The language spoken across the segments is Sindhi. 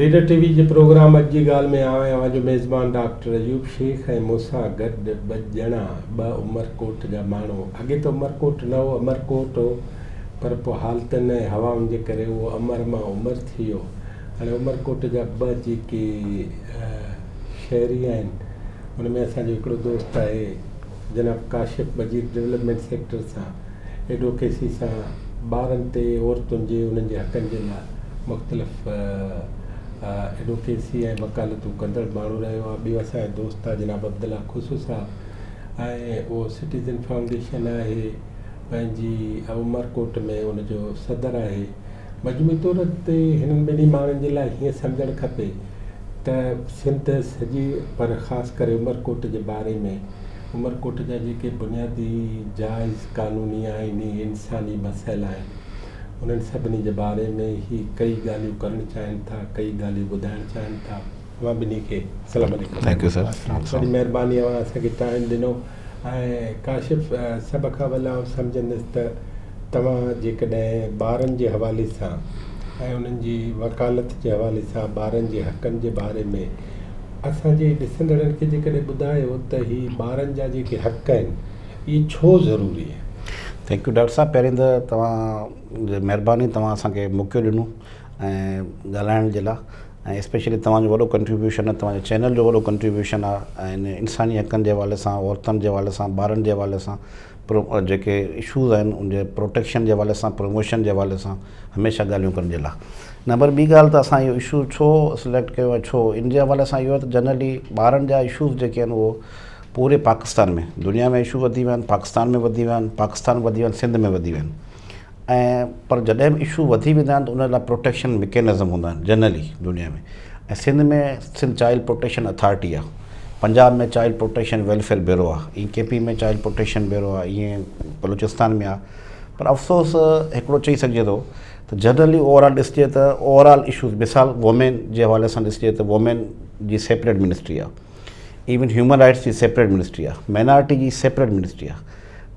ليڊر ٽي وي جي پروگرام اڄ جي ڳالهه ۾ آء اوهان جو ميزبان ڊاڪٽر ايوب شيخ ۽ مون سان گڏ ٻه ڄڻا ٻه عمرڪوٽ جا ماڻهو اڳي ته عمرڪوٽ نه هو امرڪوٽ هو پر پوء حالتن ۽ هوائن جي ڪري اهو امر مان عمر ٿي ويو هاڻي عمرڪوٽ جا ٻه جيڪي شهري آهن ان ۾ اسان جو هڪڙو دوست آهي جناب ڪاشف مجيد ڊولپمينٽ سيڪٽر سان ايڊوڪيسي سان ٻارن تي عورتن جي انهن جي حقن جي لاء مختلف ايڊوڪيسي ۽ وڪالتون ڪندڙ ماڻهو رهيو آهي ٻيو اسان جا دوست آهي جناب عبدالله خصو صاحب ۽ اهو سٽيزن فائونڊيشن آهي پنهنجي عمرڪوٽ ۾ ان جو صدر آهي مجموعي طور تي هنن ٻنهي ماڻهن جي لاء هيئن سمجهڻ کپي ته سنڌ سڄي پر خاص ڪري عمرڪوٽ جي باري ۾ عمرڪوٽ جا جيڪي بنيادي جائز قانوني آئيني انساني مسئل آهن انهن سڀني جي باري ۾ هي ڪئي ڳالهيون ڪرڻ چاهين ٿا ڪئي ڳالهيون ٻڌائڻ چاهين ٿا اوهان ٻنهي کي السلام عليڪم ٿينڪ يو سر وڏي مهرباني اوهان اسان کي ٽائيم ڏنو ۽ ڪاشف سڀ کان اول آئون سمجهندس ته توهان جيڪڏهن ٻارن جي حوالي سان ۽ انهن جي وڪالت جي حوالي سان ٻارن جي حقن جي باري ۾ اسان جي ڏسندڙن کي جيڪڏهن ٻڌايو ته هي ٻارن جا جيڪي حق آهن اهي ڇو ضروري آهن ٿينڪ يو ڊاڪٽر صاحب پهرين ته توهان جي مهرباني توهان اسان کي موقعو ڏنو ۽ ڳالهائڻ جي لاء ۽ اسپيشلي توهان جو وڏو ڪنٽريبيوشن آهي توهان جي چينل جو وڏو ڪنٽريبيوشن آهي ۽ انساني حقن جي حوالي سان عورتن جي حوالي سان ٻارن جي حوالي سان پرو جيڪي اشوز آهن ان جي پروٽيڪشن جي حوالي سان پروموشن جي حوالي سان هميشه ڳالهيون ڪرڻ جي لاء نه پر ٻي ڳالهه ته اسان اهو اشو ڇو سليڪٽ ڪيو آهي ڇو ان جي حوالي سان اهو آهي ته جنرلي ٻارن جا اشوز جيڪي آهن اهو پوري پاڪستان ۾ دنيا ۾ اشو وڌي ويا آهن پاڪستان ۾ وڌي ويا آهن پاڪستان وڌي ويا آهن سنڌ ۾ وڌي ويا آهن ۽ پر جڏهن به اشو وڌي ويندا آهن ته ان لاء پروٽيڪشن مڪينزم هوندا آهن جنرلي دنيا ۾ ۽ Sindh ۾ Sindh child protection authority آهي Punjab ۾ child protection welfare bureau آهي ائين K P ۾ child protection bureau آهي ائين بلوچستان ۾ آهي پر افسوس هڪڙو چئي سگهجي ٿو ته جنرلي اوور آل ڏسجي ته اوور آل اشوز مثال وومين جي حوالي سان ڏسجي ته وومين جي سيپريٽ منسٽري آهي ايون هيومن رائٽس جي سيپريٽ منسٽري آهي مائنارٽي جي سيپريٽ منسٽري آهي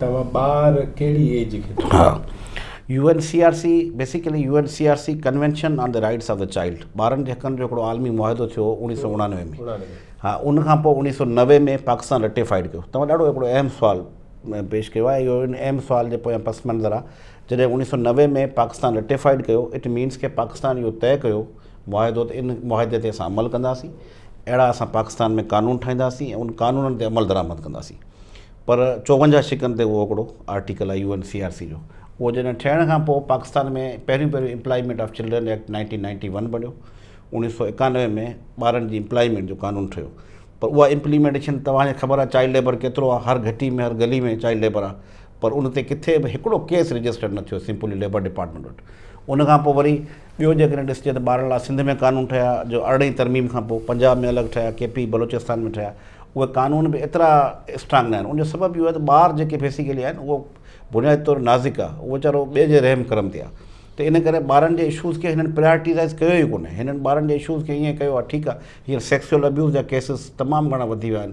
توهان ٻار ڪهڙي ايج کي ٿو ها U N C R C basically U N C R C convention on the rights of the child ٻارن جي حقن جو هڪڙو عالمي معاهدو ٿيو هو اوڻيهه سؤ اڻانوي ۾ ها ان کان پوء اوڻيهه سؤ نوي ۾ پاڪستان رٽيفائيڊ ڪيو توهان ڏاڍو هڪڙو اهم سوال پيش ڪيو آهي اهو ان اهم سوال جي پويان پس منظر آهي جڏهن اوڻيهه سؤ نوي ۾ پاڪستان رٽيفائيڊ ڪيو اٽ مينس ڪي پاڪستان اهو طئي ڪيو معاهدو ته ان معاهدي تي اسان عمل ڪنداسين اهڙا اسان پاڪستان ۾ قانون ٺاهينداسين ۽ ان قانونن تي عمل درآمد ڪنداسين پر چوونجاهه شقن تي اهو هڪڙو آرٽيڪل آهي U N C R C جو اهو جڏهن ٺهڻ کان پوء پاڪستان ۾ پهريون پهريون employment of children act nineteen ninety one بڻيو اڻيهه سو ايڪانوي ۾ ٻارن جي امپلائمينٽ جو قانون ٺهيو پر اها امپليمينٽيشن توهان کي خبر آهي چائلڊ ليبر ڪيترو آهي هر گهٽي ۾ هر گلي ۾ چائلڊ ليبر آهي پر ان تي ڪٿي به هڪڙو ڪيس رجسٽرڊ نه ٿيو سمپلي ليبر ڊپارٽمينٽ وٽ ان کان پوء وري ٻيو جيڪڏهن ڏسجي ته ٻارن لاء سنڌ ۾ قانون ٺهيا جو ارڙهين ترميم کان پوء پنجاب ۾ الڳ ٺهيا ڪي پي بلوچستان ۾ ٺهيا اهي قانون به ايترا اسٽرانگ ناهن ان جو سبب اهو آهي ته ٻار جيڪي بيسيڪلي آهن اهو بنيادي طور نازڪ آهي اهو ويچارو ٻئي جي رحم ڪرم تي آهي ته ان ڪري ٻارن جي اشوز کي هنن پريارٽيزائز ڪيو ئي ڪونهي هنن ٻارن جي اشوز کي ائين ڪيو آهي ٺيڪ آهي هينئر سيڪسوئل ابيوز جا ڪيسز تمام گهڻا وڌي ويا آهن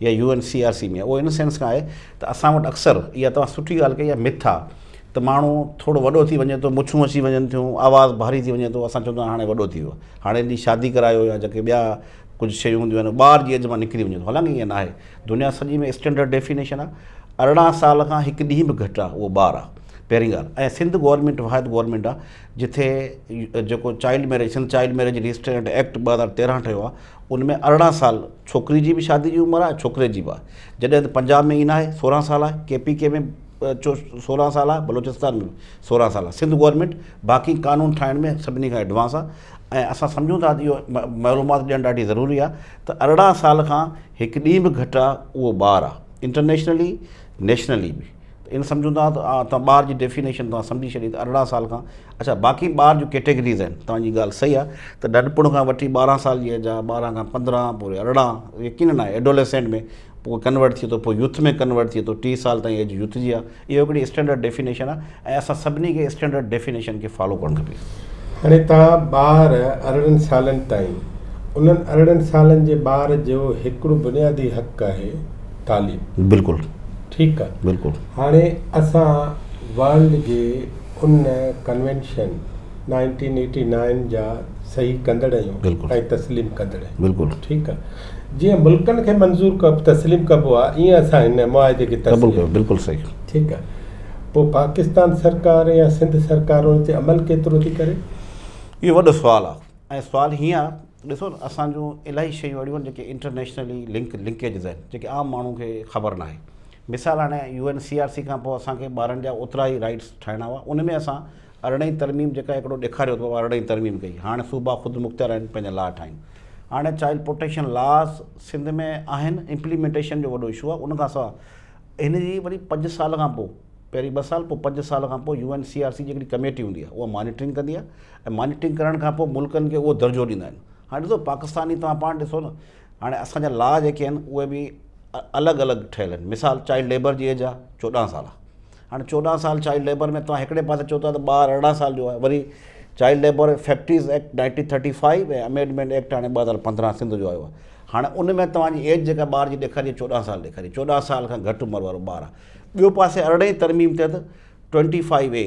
يا U N C R C ۾ اهو ان سينس کان آهي ته اسان وٽ اڪثر اها توهان سٺي ڳالهه ڪئي آهي مٿ آ ته ماڻهو ٿورو وڏو ٿي وڃي ٿو مڇون اچي وڃن ٿيون آواز ڀاري ٿي وڃي ٿو اسان چوندا هاڻي وڏو ٿي ويو هاڻي جي شادي ڪرايو يا جيڪي ٻيا ڪجهه شيون هونديون آهن ٻار جي ايج مان نڪري وڃي ٿو حالانڪه ائين ناهي دنيا سڄي ۾ اسٽينڊرڊ ڊيفينيشن آ ارڙهن سال کان هڪ ڏينهن به گهٽ آ اهو ٻار آ پهرين ڳالهه ۽ سنڌ گورنمينٽ واحد گورنمينٽ آ جتي جيڪو child marriage Sindh child marriage restraint act ٻه هزار تيرهن ٺهيو آ ان ۾ ارڙهن سال ڇوڪري جي به شادي جي عمر آهي ڇوڪري جي به آهي جڏهن ته پنجاب ۾ ائين نه آهي سورهن سال آهي ڪي پي ڪي ۾ سورهن سال آهي بلوچستان ۾ به سورهن سال آهي سنڌ گورمينٽ باقي قانون ٺاهڻ ۾ سڀني کان ايڊوانس آهي ۽ اسان سمجهون ٿا ته اهو معلومات ڏيڻ ڏاڍي ضروري آهي ته ارڙهن سال کان هڪ ڏينهن به گهٽ آهي اهو ٻار آهي انٽرنيشنلي نيشنلي به ائين سمجهون ٿا ته ٻار جي ڊيفينيشن سمجهي ڇڏي ته ارڙهن سال کان اڇا باقي ٻار جون ڪيٽيگريز آهن توهان جي ڳالهه صحيح آهي ته ننڍپڻ کان وٺي ٻارهن سال جي ايج آهي ٻارهن کان پندرهن پوري ارڙهن يقينن آهي ايڊوليسينٽ ۾ پوء ڪنورٽ ٿئي ٿو پوء يوٿ ۾ ڪنورٽ ٿئي ٿو ٽيهه سال تائين ايج يوٿ جي آهي اهو هڪڙي اسٽينڊرڊ ڊيفينيشن آهي ۽ اسان سڀني کي اسٽينڊرڊ ڊيفينيشن کي فالو ڪرڻ کپي. هاڻي توهان ٻار ارڙهن سالن تائين انهن ارڙهن سالن جي ٻار جو هڪڙو بنيادي حق آهي تعليم بلڪل ٺيڪ آهي بلڪل هاڻي اسان ورلڊ جي ان ڪنوينشن نائنٽين ايٽي نائن جا صحيح ڪندڙ آهيون ۽ تسليم ڪندڙ آهيون ٺيڪ آهي جيئن ملڪن کي منظور تسليم ڪبو آهي ايئن اسان هن معاهدي کي تسليم ڪيو بلڪل صحيح ٺيڪ آهي پوء پاڪستان سرڪار يا سنڌ سرڪار ان تي عمل ڪيترو ٿي ڪري اهو وڏو سوال آهي ۽ سوال هيئن آهي ڏسو نه اسان جون الاهي شيون اهڙيون آهن جيڪي انٽرنيشنلي لنڪ لنڪيجز آهن جيڪي عام ماڻهو کي خبر ناهي مثال هاڻي U N C R C کان پوء اسان کي ٻارن جا اوترا ئي رائيٽس ٺاهڻا هئا ان ۾ اسان ارڙهين ترميم جيڪا هڪڙو ڏيکاريو ته ارڙهين ترميم ڪئي هاڻ صوبا خود مختيار آهن پنهنجا لا ٺاهين هاڻ چائلڊ پروٽيڪشن لاز سنڌ ۾ آهن امپليمينٽيشن جو وڏو اشو آهي ان کان سوا هن جي وري پنج سال کان پوء پهرين ٻه سال پوء پنج سال کان پوء U N C R C جي هڪڙي ڪميٽي هوندي آهي اها مانيٽرنگ ڪندي آهي ۽ مانيٽرنگ ڪرڻ کان پوء ملڪن کي اهو درجو ڏيندا آهن هاڻ ڏسو پاڪستان ئي توهان پاڻ ڏسو نه هاڻي اسان جا لا جيڪي آهن اهي به الڳ الڳ ٺهيل آهن مثال چائلڊ ليبر جي ايج آهي چوڏهن سال هاڻي چوڏهن سال چائلڊ ليبر ۾ توهان هڪڙي پاسي چئو ٿا ته ٻار ارڙهن سال جو آهي وري child labour factories act nineteen thirty five ۽ amendment act هاڻي ٻه هزار پندرهن سنڌ جو آيو آهي هاڻي ان ۾ توهان جي ايج جيڪا ٻار جي ڏيکاري چوڏهن سال ڏيکاري چوڏهن سال کان گهٽ عمر وارو ٻار آهي ٻيو پاسي ارڙهين ترميم تحت ٽوئنٽي فائيو اي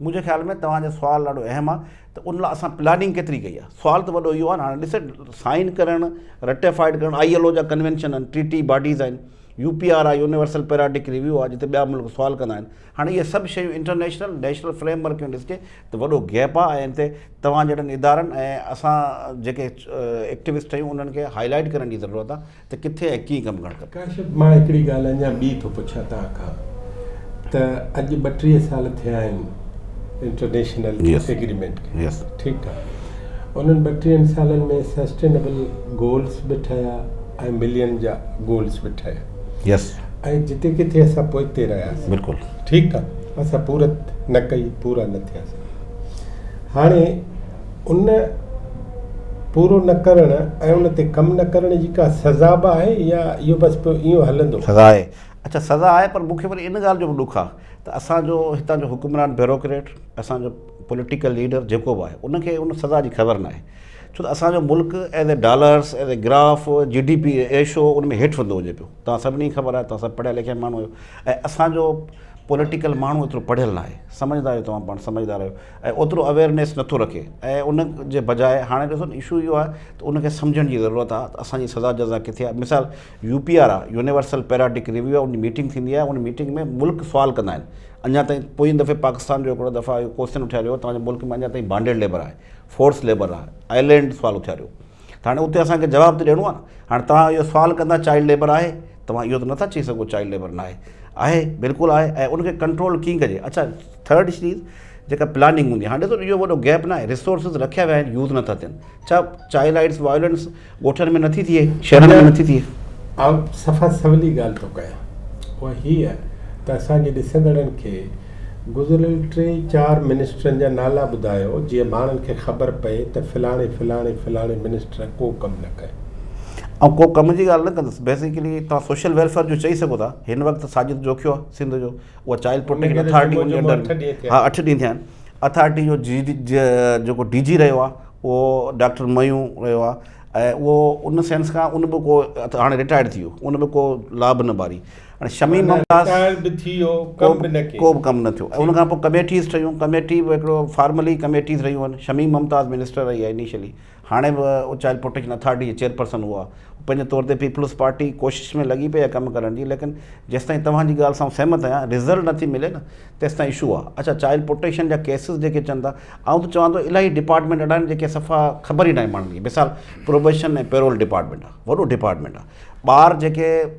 منهنجي خيال ۾ توهان جو سوال ڏاڍو اهم آ ته ان لا اسان پلاننگ ڪيتري ڪئي آ سوال ته وڏو اهو آ نه هاڻي ڏس سائين ڪرڻ رٽيفائيڊ ڪرڻ آئي ايل او جا ڪنوينشن آهن ٽريٽي باڊيز آهن يو پي آر آ يونيورسل پيراڊڪ ريويو آ جتي ٻيا ملڪ سوال ڪندا آهن هاڻي اهي سڀ شيون انٽرنيشنل نيشنل فريم ورڪ ۾ ڏسجي ته وڏو گيپ آ ۽ ان تي توهان جهڙن ادارن ۽ اسان جيڪي ايڪٽوسٽ آهيون انهن کي هائي لائيٽ ڪرڻ جي ضرورت آ ته ڪٿي ۽ ڪيئن ڪم ڪرڻ کپي. ڪاشف مان هڪڙي ڳالهه اڃا ٻي ٿو پڇان توهان کان ته اڄ ٻٽيهه سال ٿيا آهن انٽرنيشنل ايگريمينٽ کي ٺيڪ آ انهن ٻٽيهن سالن ۾ سسٽينبل گولس به ٺهيا ۽ ملين جا گولس به ٺهيا ۽ جتي ڪٿي اسان پوئتي رهياسين ٺيڪ آ اسان پورت نه ڪئي پورا نه ٿياسين هاڻي ان پورو نه ڪرڻ ۽ ان تي ڪم نه ڪرڻ جي ڪا سزا به آهي يا اهو بس پوء ايئن هلندو؟ سزا آهي. اڇا سزا آهي پر مون کي وري ان ڳالهه جو به ڏک آهي ته اسان جو هتان جو حڪمران بيوروڪريٽ اسان جو پوليٽيڪل ليڊر جيڪو به آهي ان کي ان سزا جي خبر ناهي ڇو ته اسان جو ملڪ as a dollars as a graph G D P issue ان ۾ هيٺ ويندو وڃي پيو توهان سڀني کي خبر آهي توهان سڀ پڙهيا لکيا ماڻهو آهيو ۽ اسان جو پوليٽيڪل ماڻهو ايترو پڙهيل ناهي سمجهدار آهيو توهان پاڻ سمجهدار آهيو ۽ اوترو اويئرنيس نٿو رکي ۽ ان جي بجاء هاڻي ڏسو نه اشو اهو آهي ته ان کي سمجهڻ جي ضرورت آهي ته اسان جي سزا جزا ڪٿي آهي مثال يو پي آر آهي يونيورسل پيراڊڪ ريويو آهي ان جي ميٽنگ ٿيندي آهي ان ميٽنگ ۾ ملڪ سوال ڪندا آهن اڃا تائين پوئين دفعي پاڪستان جو هڪڙو دفعا اهو ڪوسچن اٿياريو هو توهان جي ملڪ ۾ اڃا تائين بانڊيڊ ليبر آهي فورس ليبر آهي آئلينڊ سوال اٿياريو ته هاڻي اتي اسان کي جواب ته ڏيڻو آهي نه. هاڻي توهان اهو سوال ڪندا چائلڊ ليبر آهي؟ توهان اهو ته نه ٿا چئي سگهو چائلڊ ليبر ناهي. آهي بلڪل آهي ۽ ان کي ڪنٽرول ڪيئن ڪجي. اڇا ٿرڊ چيز جيڪا پلاننگ هوندي هاڻي ڏسو اهو وڏو گيپ ناهي ريسورسز رکيا ويا آهن يوز نٿا ٿين ڇا چائلڊ رائيٽس وائلنس ڳوٺن ۾ نٿي ٿئي شهرن ۾ نٿي ٿئي. آء صفا سولي ڳالهه ٿو ڪيان اها هيء ته اسان جي ڏسندڙن کي گذريل ٽي چار منسٽرن جا نالا ٻڌايو جيئن ماڻهن کي خبر پئي ته فلاڻي فلاڻي فلاڻي منسٽر ڪو ڪم نه ڪيو. آئون ڪو ڪم جي ڳالهه نه ڪندس بيسيڪلي توهان سوشل ويلفيئر جو چئي سگهو ٿا هن وقت ساجد جوکيو آهي سنڌ جو اها چائلڊ پروٽيڪشن اٿارٽي ان جي انڊر ۾ ها اٺ ڏينهن ٿيا آهن اٿارٽي جو جي جيڪو ڊي جي رهيو آهي اهو ڊاڪٽر ميون رهيو آهي ۽ اهو ان سينس کان ان به ڪو هاڻي رٽائرڊ ٿي ويو ان به ڪو لابه نه ٻاري هاڻي شميم معنيٰ ممتاز رٽائر به ٿي ويو، ڪو ڪم به به نه ڪيو. ڪو به ڪم نه ٿيو ۽ ان ٺيڪ. کان پوء ڪميٽيز ٺهيون، ڪميٽي به هڪڙو فارملي ڪميٽيز رهيون آهن، شميم ممتاز منسٽر رهي آهي انيشلي، هاڻي به اچايل پروٽيڪشن اٿارٽي جي چيئرپرسن هو آهي، هو پنهنجي طور تي پيپلز پارٽي ڪوشش ۾ لڳي پئي آهي ڪم ڪرڻ جي ليڪن جيستائين توهان جي ڳالهه سان آئون سهمت آهيان رزلٽ نه ٿي ملي نه تيستائين اشو آهي، اڇا چائلڊ پروٽيڪشن جا ڪيسز جيڪي اچن ٿا آئون ته چوان ٿو الاهي ڊپارٽمينٽ اهڙا آهن جيڪي صفا خبر ئي ناهي ماڻهن کي مثال پروبيشن ۽ پيرول ڊپارٽمينٽ آهي وڏو ڊپارٽمينٽ آهي ٻار جيڪي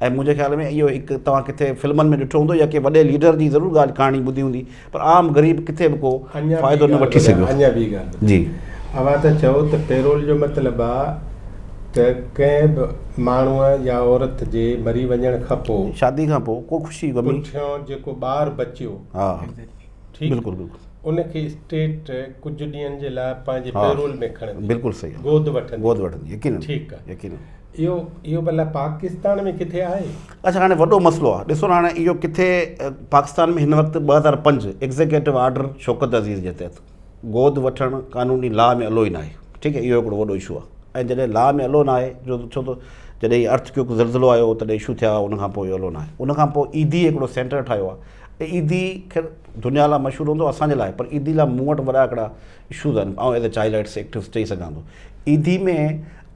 ۽ منهنجي خيال ۾ اهو هڪ توهان ڪٿي فلمن ۾ ڏٺو هوندو يا ڪنهن وڏي ليڊر جي ضرور ڳالهه ڪهاڻي ٻڌي هوندي پر عام غريب ڪٿي به ڪو فائدو نه وٺي سگهيو. اڃا ٻي ڳالهه ٻڌايان. جي. اوهان ٿا چئو ته پيرول جو مطلب آ ته ڪنهن به ماڻهوء يا عورت جي مري وڃڻ کان پوء. شادي کان پوء ڪو خوشي غمي. پٺيان جيڪو ٻار بچيو. ها. ٺيڪ. بلڪل بلڪل. ان کي اسٽيٽ ڪجهه ڏينهن جي لاء پنهنجي پيرول ۾ کڻندي. بلڪل صحيح. گود وٺندي. گود وٺندي يقينن. ٺيڪ آ. يقينن. اهو اهو ڀلا پاڪستان ۾ ڪٿي آهي؟ اچ هاڻي وڏو مسئلو آ ڏسو نه هاڻي اهو ڪٿي پاڪستان ۾ هن وقت ٻه هزار پنج ايگزيڪيٽو آرڊر شوڪت عزيز جي تحت گود وٺڻ قانوني لا ۾ الو ئي ناهي ٺيڪ اهو هڪڙو وڏو اشو آ ۽ جڏهن لا ۾ الو ناهي جو ڇو ته جڏهن هي ارٿ ڪيوڪ زلزلو آيو تڏهن اشو ٿيا ان کان پوء الو ناهي ان کان پوء ايڌي هڪڙو سينٽر ٺاهيو آ ۽ ايڌي خير دنيا لا مشهور هوندو اسان جي لاء پر ايڌي لا مون وٽ وڏا هڪڙا اشوز آهن آئون as a child rights activist چئي سگهان ٿو ايڌي ۾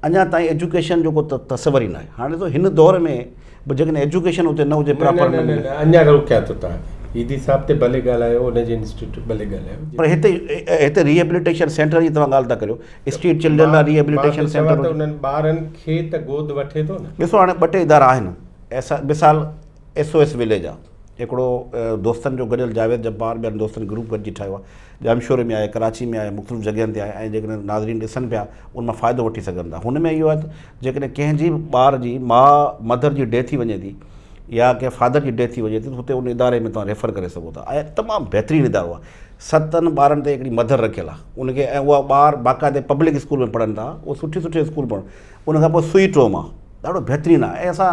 اڃا تائين ايجوڪيشن جو ڪو تصور ئي ناهي هاڻي ته هن دور ۾ به جيڪڏهن ايجوڪيشن اتي نه هجي پراپر نه نه نه اڃا روڪيان ٿو تان کي ايڌي صاحب تي ڀلي ڳالهايو ان جي انسٽيٽيوٽ ڀلي ڳالهايو پر هتي هتي ريهيبليٽيشن سينٽر جي توهان ڳالهه ٿا ڪريو اسٽريٽ چلڊرن لاء ريهيبليٽيشن سينٽر هجي انهن ٻارن کي ته گود وٺي ٿو نه ڏسو هاڻي ٻه ٽي ادارا آهن ايسا مثال ايس او ايس وليج آهي هڪڙو دوستن جو گڏيل جاويد جبار ٻين دوستن گروپ گڏجي ٺاهيو آهي ڄامشوري ۾ آهي، ڪراچي ۾ آهي، مختلف جڳهين تي آهي ۽ جيڪڏهن ناظرين ڏسن پيا ان مان فائدو وٺي سگهن ٿا. هن ۾ اهو آهي ته جيڪڏهن ڪنهن جي به ٻار جي ماء، مڌر، جي ڊيٿ ٿي وڃي ٿي يا ڪنهن فادر جي ڊيٿ ٿي وڃي ٿي ته هتي ان اداري ۾ توهان ريفر ڪري سگهو ٿا ۽ تمام بهترين ادارو آهي. ستن ٻارن تي هڪڙي مڌر رکيل آهي ان کي ۽ اها ٻار باقاعدي پبلڪ اسڪول ۾ پڙهن ٿا، اهو سٺي سٺي اسڪول پڙهن ان کان پوء سوئي ٽروما ڏاڍو بهترين آهي ۽ اسان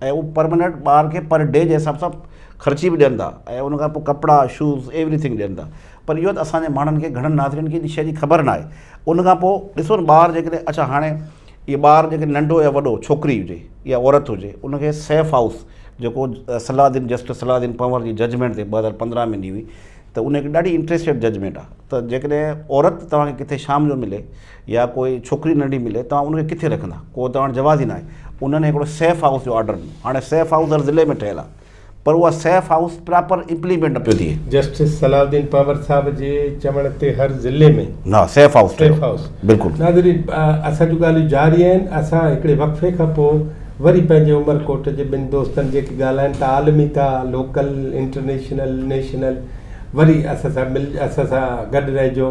۽ هو پر منٽ ٻار کي پر ڊي جي حساب سان خرچي به ڏين ٿا ۽ ان کان پوء ڪپڙا شوز ايوري ٿنگ ڏين ٿا پر اهو ته اسان جي ماڻهن کي گهڻن ناظرين کي ان شيء جي خبر ناهي ان کان پوء ڏسو نه ٻار جي ڪڏهن اڇا هاڻي اهي ٻار جي ڪڏهن ننڍو يا وڏو ڇوڪري هجي يا عورت هجي ان کي سيف هائوس جيڪو صلاح الدين جسٽس صلاح الدين پنور جي ججمينٽ تي ٻه هزار پندرهن ۾ ڏني هئي ته ان هڪ ڏاڍي انٽريسٽيڊ ججمينٽ آهي ته جيڪڏهن عورت توهان کي ڪٿي شام جو ملي يا ڪوئي ڇوڪري ننڍي ملي توهان ان کي ڪٿي رکندا ڪو توهان وٽ جواز ئي ناهي انهن هڪڙو سيف هائوس جو آرڊر ڏنو هاڻي سيف هائوس هر ضلعي ۾ ٺهيل آهي پر اها سيف هائوس پراپر امپليمينٽ نه پيو ٿئي. جسٽس صلاح الدين پنهور صاحب جي چوڻ تي هر ضلعي ۾ ها سيف هائوس ٺهيو سيف هائوس بلڪل. ناظرين اسان جون ڳالهيون جاري آهن اسان هڪڙي وقفي کان پوء وري پنهنجي عمر ڪوٽ جي ٻن دوستن جيڪي ڳالهائن ٿا عالمي ٿا لوڪل انٽرنيشنل نيشنل وري اسان سان مل اسان سان گڏ رهجو.